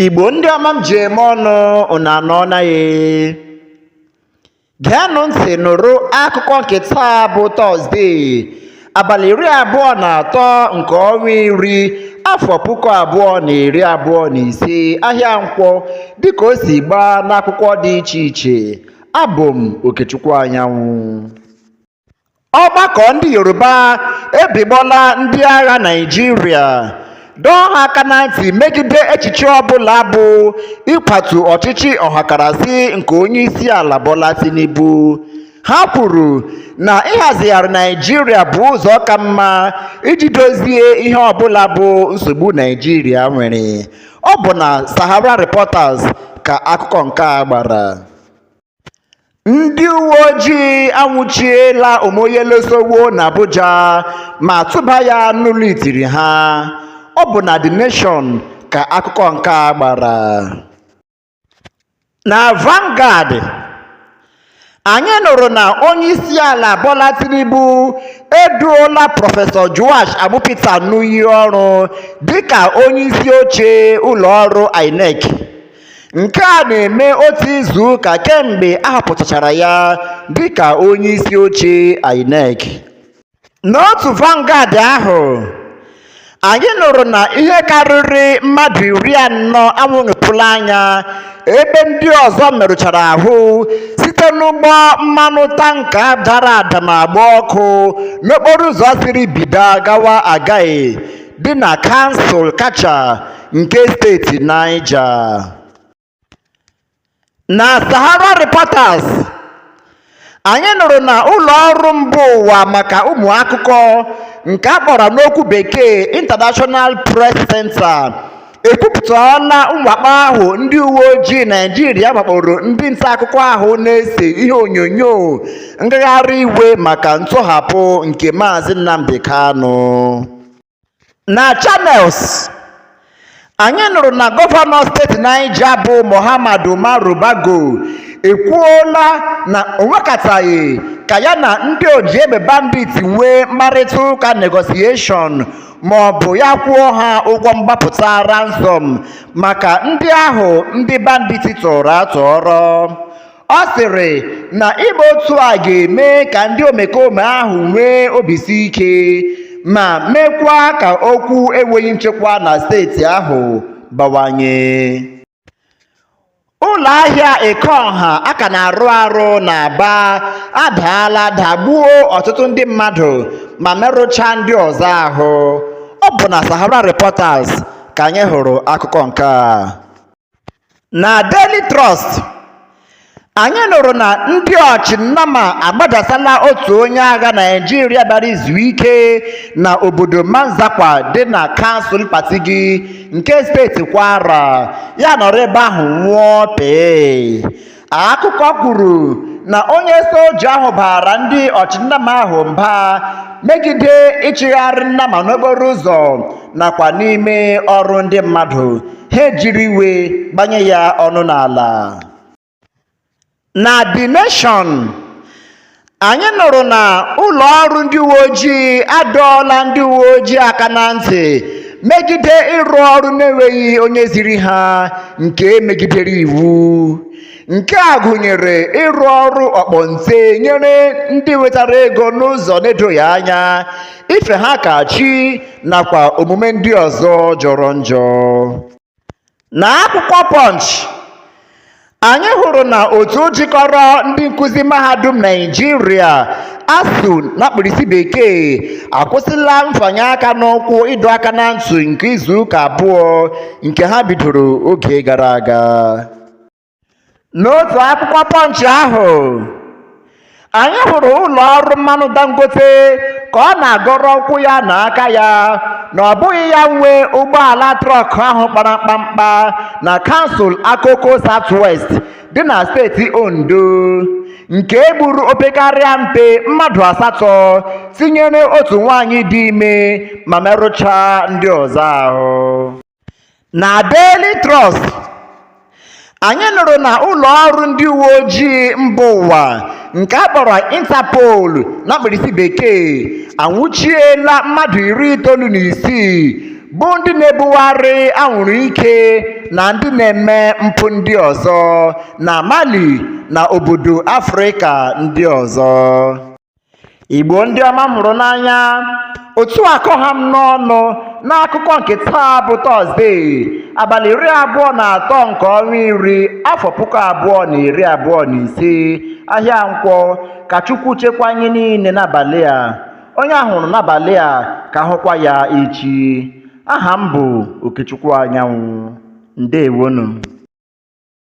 Igbo ndị ọma m ji eme ọnụ unu anọọna ya geenụ ntị nụrụ akụkọ nke taa bụ tọzdee abalị iri abụọ na atọ nke ọnwa iri afọ puku abụọ na iri abụọ na ise ahịa nkwọ dịka o si gbaa n'akwụkwọ dị iche iche abụ m okechukwu anyanwụ Ọgbakọ ndị Yoruba ebigbola ndị agha Naịjirịa dọọ ha aka na ntị megide echiche ọbụla bụ ịkwatu ọchịchị ọhakarasị nke onyeisiala Bola Tinubu. Ha kwuru na ịhazigharị Naịjirịa bụ ụzọ ka mma iji dozie ihe ọbụla bụ nsogbu Naịjirịa nwere. Ọ bụ na Sahara Reporters ka akụkọ nke a gbara. Ndị uwe ojii anwụchiela Omoyele Sowore n'Abuja ma tụba ya n'ụlọ itiri ha. Ọ bụ na The Nation ka akụkọ nke a gbara. Na Vanguard, anyị nụrụ na onyeisiala Bola Tinubu eduola Prọfesọ Joash Amupita n'iyi ọrụ dịka onyeisi oche ụlọọrụ INEC Nke a na-eme otu izu ụka kemgbe a họpụtachara ya dịka onyeisi oche INEC. N'otu Vanguard ahụ, anyị nụrụ na ihe karịrị mmadụ iri anọ anwụghịpụla anya ebe ndị ọzọ merụchara ahụ site n'ụgbọ mmanụ tanka dara ada ma gba ọkụ n'okporoụzọ siri Bida gawa Agaie dị na kansụl Katcha nke steeti Niger na Sahara Reporters anyị nụrụ na ụlọ ọrụ mba ụwa maka ụmụ akụkọ nke a kpọrọ n'okwu bekee International Press Center ekwupụtala mwakpo ahụ ndị uwe ojii naijiria wakporo ndị nta akụkọ ahụ na-ese ihe onyonyo ngagharị iwe maka ntọhapụ nke maazị nnamdi kanu Na Channels, anyị nụrụ na gọvanọ steeti Niger bụ Mohammed Umaru Bago ekwuola na o nwekataghị ka ya na ndị oji egbe bandit nwee mkparịta ụka negotiation ma ọ bụ ya kwụọ ha ụgwọ mgbapụta ransom maka ndị ahụ ndị bandit tọrọ atọrọ. Ọ sịrị na ime otu a ga-eme ka ndị omekome ahụ nwee obisi ike ma mekwa ka okwu enweghị nchekwa na steeti ahụ bawanye. Ụlọ ahịa Ekeọha a ka na-arụ arụ n'Aba adaala dagbuo ọtụtụ ndị mmadụ ma merụchaa ndị ọzọ ahụ. Ọ bụ na Sahara Reporters ka anyị hụrụ akụkọ nke a. na Daily Trust anyị nụrụ na ndị ọchịnnama agbadasala otu onye agha naijiria bịara izu ike na obodo manzakwa dị na kansụl patigi nke steeti kwara ya anọrọ ebe ahụ nwụọ pee akụkọ kwuru na onye soja ahụ baara ndị ọchịnnama ahụ mba megide ịchịgharị nnama n'okporo ụzọ nakwa n'ime ọrụ ndị mmadụ ha ejiri iwe gbanye ya ọnụ n'ala na The Nation Anyị nụrụ na ụlọ ọrụ ndị uwe ojii adọọla ndị uwe ojii aka na ntị megide ịrụ ọrụ na-enweghị onye ziri ha nke megidere iwu. Nke a gụnyere ịrụ ọrụ ọkpọnte nyere ndị nwetara ego n'ụzọ na-edoghị anya, ife ha ka chi nakwa omume ndị ọzọ jọrọ njọ. Na akwụkwọ Punch, anyị hụrụ na otu jikọrọ ndị nkụzi mahadum Naịjirịa ASUU na mkpirisi bekee akwụsịla mfanye aka n'ụkwụ ịdọ aka na ntị nke izuụka abụọ nke ha bidoro oge gara aga. n'otu akwụkwọ Punch ahụ anyị hụrụ ụlọ ọrụ mmanụ dangote ka ọ na-agọrọ ụkwụ ya na aka ya na ọ bụghị ya nwe ụgbọala trọk ahụ kpara mkpamkpa na kansụl akoko southwest dị na steeti ondo nke e gburu opekarịa mpe mmadụ asatọ tinyere otu nwaanyị dị ime ma merụchaa ndị ọzọ ahụ na Daily Trust anyị nụrụ na ụlọ ọrụ ndị uwe ojii mba ụwa nke a kpọrọ Interpol na mkpirisi bekee anwụchiela mmadụ iri itoolu na isii bụ ndị na-ebugharị anwụrụ ike na ndị na-eme mpụ ndị ọzọ na Mali na obodo Afrịka ndị ọzọ igbo ndị ọma m hụrụ n'anya otu a ka ọ ha m n'ọnụ n'akụkọ nke taa bụ tọzdee abalị iri abụọ na atọ nke ọnwa iri afọ puku abụọ na iri abụọ na ise ahịa nkwọ ka chukwu chekwaa anyị niile n'abalị a onye a hụrụ n'abalị a ka a hụkwa ya echi aha m bụ okechukwu anyanwụ ndewonụ